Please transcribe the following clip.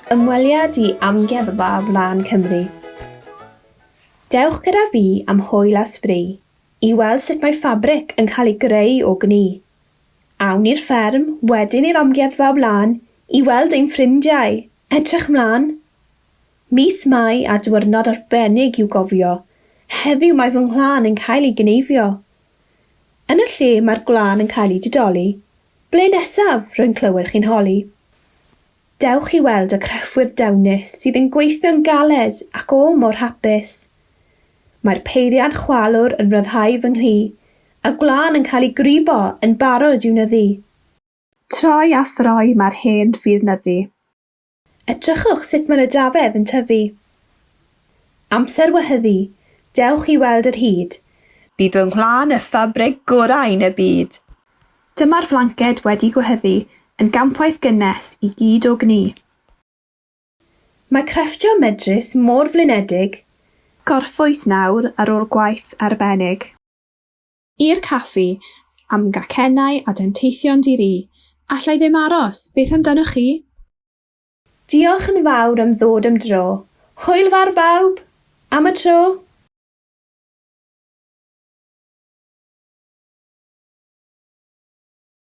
Ymweliad i Amgueddfa Flaen Cymru. Dewch gyda fi am hwyl a sbri i weld sut mae ffabric yn cael ei greu o gni Awn i'r fferm, wedyn i'r amgueddfa o blaen i weld ein ffrindiau. Edrych 'mlan! Mis Mai a diwrnod arbennig i'w gofio. Heddiw mae fy nghlân yn cael ei gneifio. Yn y lle mae'r gwlân yn cael ei didoli. Ble nesaf? Rwy'n clywed chi'n holi. Dewch i weld y crefwyr dawnus sydd yn gweithio'n galed ac o mor hapus. Mae'r peiriant chwalwr yn rhyddhau fy nghlu, a gwlân yn cael ei gwrybo yn barod i'w nyddu. Troi a throi mae'r hen ffyr nyddu. Edrychwch sut mae'r ydafedd yn tyfu. Amser wehyddu, dewch i weld yr hud. Bydd fy nghwlân y ffabrig gorau yn y byd. Dyma'r flanced wedi gwehyddu yn gampwaith gynnes i gyd o gnu. Mae crefftio medrus mor flinedig. Gorffwys nawr ar ôl gwaith arbennig. I'r caffi, am gacennau a denteithion di-ri. Alla i ddim aros, beth amdanoch chi? Diolch yn fawr am ddod am dro. Hwyl fawr bawb! Am y tro!